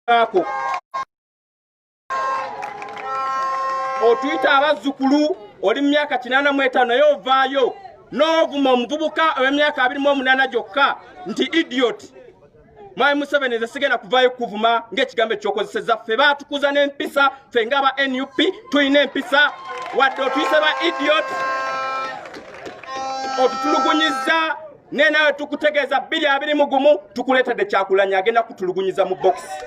okubaako otuyita abazzukulu oli mu myaka kinaana mu etaano naye ovaayo n'ovuma omuvubuka ow'emyaka abiri mu omunaana gyokka nti idiot mwami museveni nze sigenda kuvaayo kuvuma ng'ekigambo ekyokozeseza ffe baatukuza n'empisa ffe nga aba nup tulina empisa wadde otuyise ba idiot otutulugunyizza naye nawe tukutegeeza bbiri abiri mu gumu tukuleetedde kyakulanya agenda kutulugunyiza mu bokisi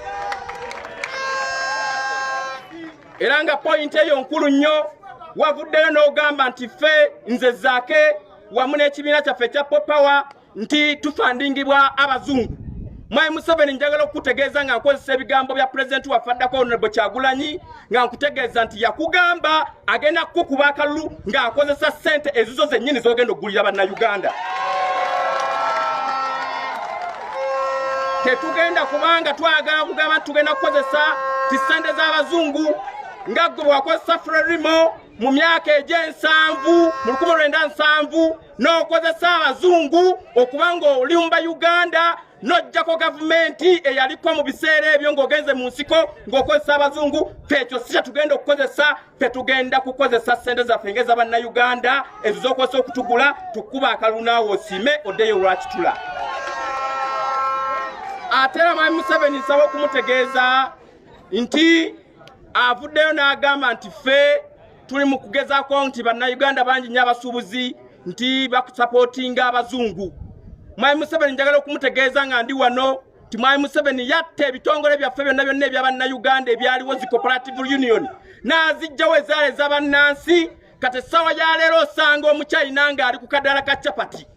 era nga poyinti eyo nkulu nnyo wavuddeyo n'ogamba nti ffe nze zaake wamu n'ekibiina kyaffe ekya popower nti tufandingibwa abazungu mwayi museveni njagala okukutegeeza nga nkozesa ebigambo bya pulezidenti waffe addako onobo kyagulanyi nga nkutegeeza nti yakugamba agenda kukukuba akalulu ng'akozesa ssente ezizo zennyini z'ogenda okugulira bannayuganda tetugenda kubanga twagala kugamba nti tugenda kukozesa ti ssente z'abazungu nga gwe bwakozesa frerimo mu myaka egy'ensanvu mu lukumi lwenda nsanvu n'okozesa abazungu okuba ng'oli mu bayuganda nojjako gavumenti eyaliko mu biseera ebyo ng'ogenze mu nsiko ng'okozesa abazungu fekyo si kyetugenda okukozesa fetugenda kukozesa sente zaffe ngeza bannayuganda ezo zokozesa okutugula tukuba akalunaawo osiime oddeyo lwakitula ate era mwami museveni nsaba okumutegeeza nti avuddeyo n'agamba nti ffe tuli mu kugezaako nti bannayuganda bangi nnyo abasuubuzi nti bakusapootinga abazungu mwami museveni njagala okumutegeeza nga ndi wano nti mwami museveni yatta ebitongole byaffe byonna byonna ebya bannayuganda ebyaliwo zi cooperative union n'azijjawo ezaala eza bannansi kati essaawa ya leero osanga omukyayina ng'ali ku kadaala ka capati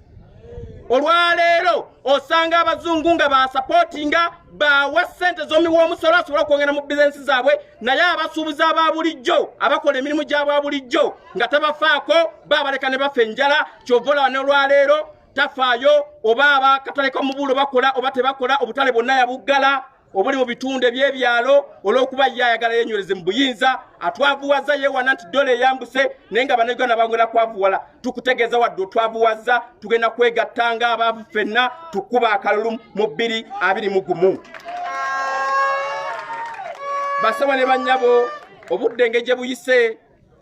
olwaleero osanga abazungu nga basapotinga bawa ssente z'omiwoomusolo asobola okwongera mu bizinensi zaabwe naye abasuubuzi aba bulijjo abakola emirimu gyabwa bulijjo nga tabafaako baabaleka ne bafa enjala kyova olaba n'olwaleero tafaayo oba abakatale ka mubuulo bakola oba tebakola obutale bwonna yabuggala obuli mu bitundu ebyebyalo olwokuba ye ayagala yenywereze mu buyinza atwavuwaza yewana nti dola eyambuse naye nga banauganda bangwera kwavuwala tukutegeeza wadde otwavuwaza tugenda kwegatta nga abaavu fenna tukuba akalulu mu bbiri abiri mu gumu basaba ne bannyabo obudde nge gye buyise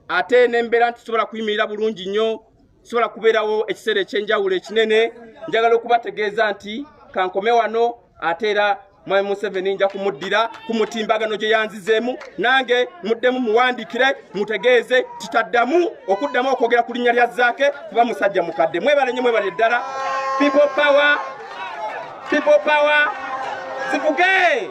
ate n'embeera nti tusobola kuyimirira bulungi nnyo sobola kubeerawo ekiseera ekyenjawulo ekinene njagala okubategeeza nti kankome wano ate era mwami museveni nja kumuddira ku mutimbagano gye yanzizeemu nange muddemu muwandikire mutegeeze titaddamu okuddamu okwogera ku linnya lya zaake kuba musajja mukadde mwebale nyo mwebale eddala people power people power zivuge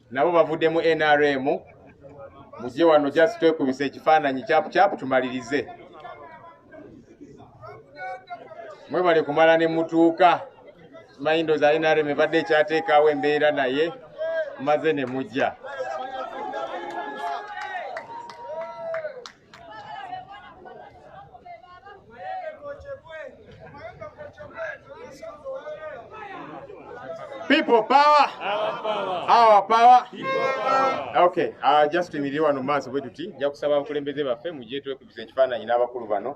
nabo bavudde mu nrm muzye wano just twekubisa ekifaananyi kyapu kyapu tumalirize mwebale kumala ne mutuuka simanyi ndoza nrm ebadde ekyateekaawo embeera naye maze ne mujja People power. Our power. Okay. Uh, just tuyimirire wano mu maaso bwe tuti nja kusaba abakulembeze baffe mujje twekubiza ekifaananyi n'abakulu bano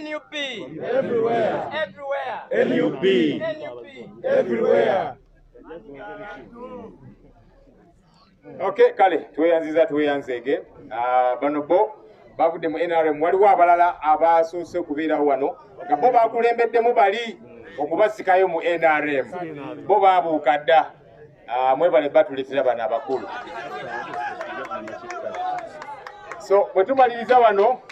NUP everywhere everywhere NUP NUP everywhere Okay, kale tweyanziza tweyanzeege ah, bano bo bavudde mu NRM waliwo abalala abasoose okubeerawo wano nga bo bakulembeddemu bali okubasikayo mu NRM bo babuuka dda Ah, mwebale batuletera bano abakulu so bwetumaliriza wano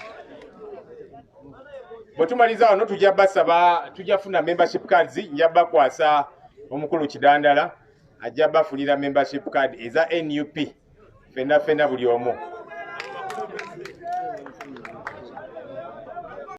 bwetumaliriza wano tujja basaba tujja funa membership cards nja bakwasa omukulu kidandala ajja bafunira membership card eza nup fenna fenna buli omu